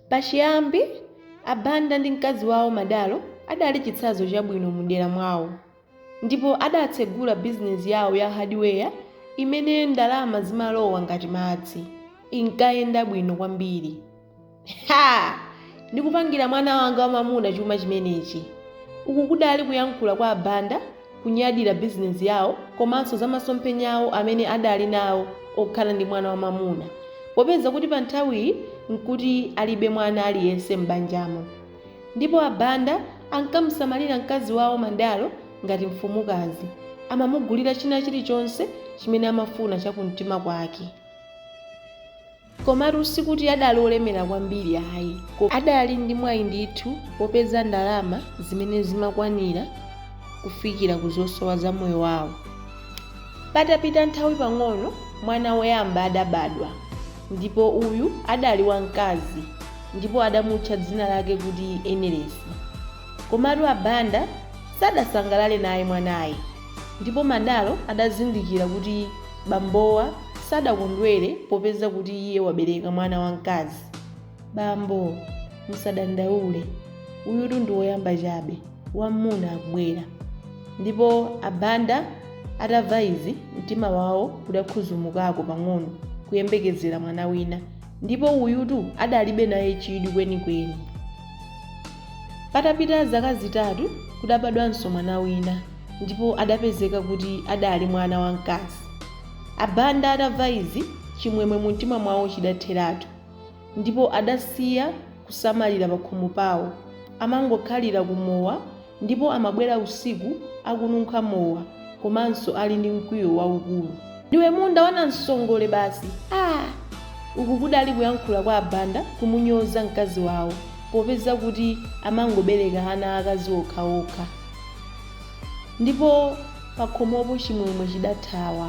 Pachiyambi, a Banda ndi mkazi wawo Madalo adali chitsanzo chabwino mu dera mwawo ndipo adatsegula bizinesi yawo ya hadiweya imene ndalama zimalowa ngati madzi. Inkayenda bwino kwambiri. Ha! Ndikupangira mwana wanga wamamuna chuma chimenechi. Uku kudali kuyankhula kwa a Banda kunyadira bizinesi yawo komanso za masomphenya awo amene adali nawo okhala ndi mwana wamamuna popeza kuti pa nthawiyi n'kuti alibe mwana aliyense m'banjamo ndipo a Banda ankamusamalira mkazi wawo Madalo ngati mfumukazi, amamugulira china chilichonse chimene amafuna chakumtima kwake. Komatu sikuti adali olemera kwambiri ayi, adali ndi mwayi ndithu wopeza ndalama zimene zimakwanira kufikira ku zosowa za moyo wawo. Patapita nthawi pang'ono mwana woyamba adabadwa ndipo uyu adali wamkazi ndipo adamutcha dzina lake kuti Enelesi. Komatu a Banda sadasangalale naye mwanayi. Ndipo Madalo adazindikira kuti bambowa sadakondwere popeza kuti iye wabereka mwana wamkazi. Bambo, musadandaule. Uyutu ndi woyamba chabe. Wammuna akubwera. Ndipo a Banda atamva izi, mtima wawo udakhuzumukako pang'ono kuyembekezera mwana wina. Ndipo uyutu adalibe naye chidwi kwenikweni. Patapita zaka zitatu, kudabadwanso mwana wina ndipo adapezeka kuti adali mwana wamkazi. A Banda atamva izi, chimwemwe mumtima mwawo chidatheratu ndipo adasiya kusamalira pakhomo pawo, amangokhalira kumowa ndipo amabwera usiku akununkha mowa. komanso ali ndi mkwiyo waukulu. Ndiwe munda wa nansongole basi aah! Uku kudali kuyankhula kwa a Banda kumunyoza mkazi wawo popeza kuti amangobereka ana aakazi okhaokha. Ndipo pakhomopo chimwemwe chidathawa.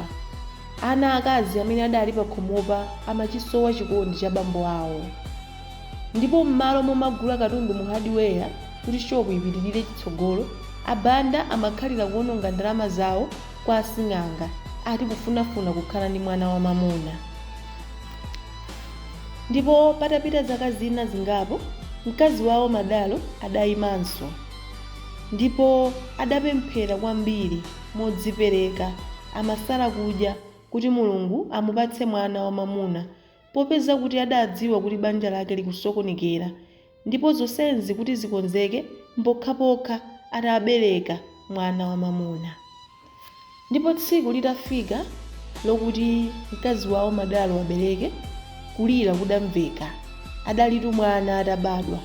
Ana aakazi amene adali pakhomopa amachisowa chikondi cha bambo awo. Ndipo m'malo momagula katundu mu hardware kuti shopu ipitirire chitsogolo, a Banda amakhalira kuononga ndalama zawo kwa asing'anga ati kufunafuna kukhala ndi mwana wamamuna. Ndipo patapita zaka zina zingapo, mkazi wawo Madalo adaimanso ndipo adapemphera kwambiri modzipereka amasala kudya kuti Mulungu amupatse mwana wamamuna Popeza kuti adadziwa kuti banja lake likusokonekera, ndipo zonsezi kuti zikonzeke mpokhapokha atabereka mwana wamwamuna. Ndipo tsiku litafika lokuti mkazi wao Madalo abereke, kulira kudamveka. Adalitu mwana atabadwa,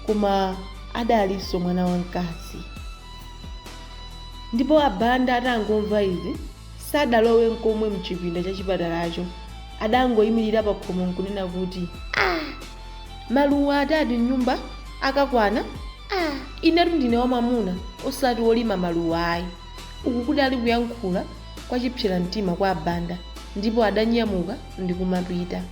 koma adalinso mwana wamkazi. Ndipo a Banda atangomva izi. Sadalowe nkomwe m'chipinda cha chipatalacho. Adangoimirira pakhomo nkunena kuti, Ah! Maluwa atatu m'nyumba akakwana? Ah! Inetu ndine wamwamuna, osati wolima maluwa ayi. Uku kudali kuyankhula kwa chipseramtima kwa a Banda ndipo adanyamuka ndi kumapita.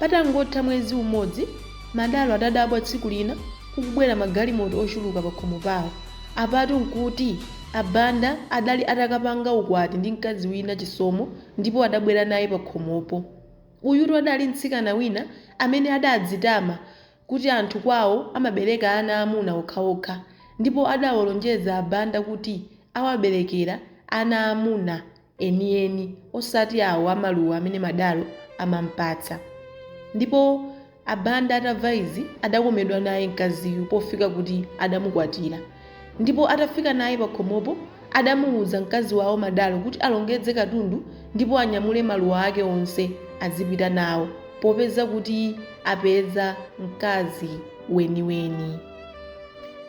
Patangotha mwezi umodzi, Madalo adadabwa tsiku lina kukubwera magalimoto ochuluka pakhomo pawo. Apatu nkuti a Banda adali atakapanga ukwati ndi mkazi wina, Chisomo, ndipo adabwera naye pakhomopo. Uyutu adali mtsikana wina amene adadzitama kuti anthu kwawo amabereka ana aamuna okhaokha ndipo adawalonjeza a Banda kuti awaberekera ana aamuna. enieni, osati awo a maluwa amene Madalo amampatsa. Ndipo a Banda atamva izi adakomedwa naye mkaziyu pofika kuti adamukwatira. Ndipo atafika naye pakhomopo adamuwuza mkazi wawo Madalo kuti alongedze katundu ndipo anyamule maluwa ake onse azipita nawo popeza kuti apeza mkazi weniweni.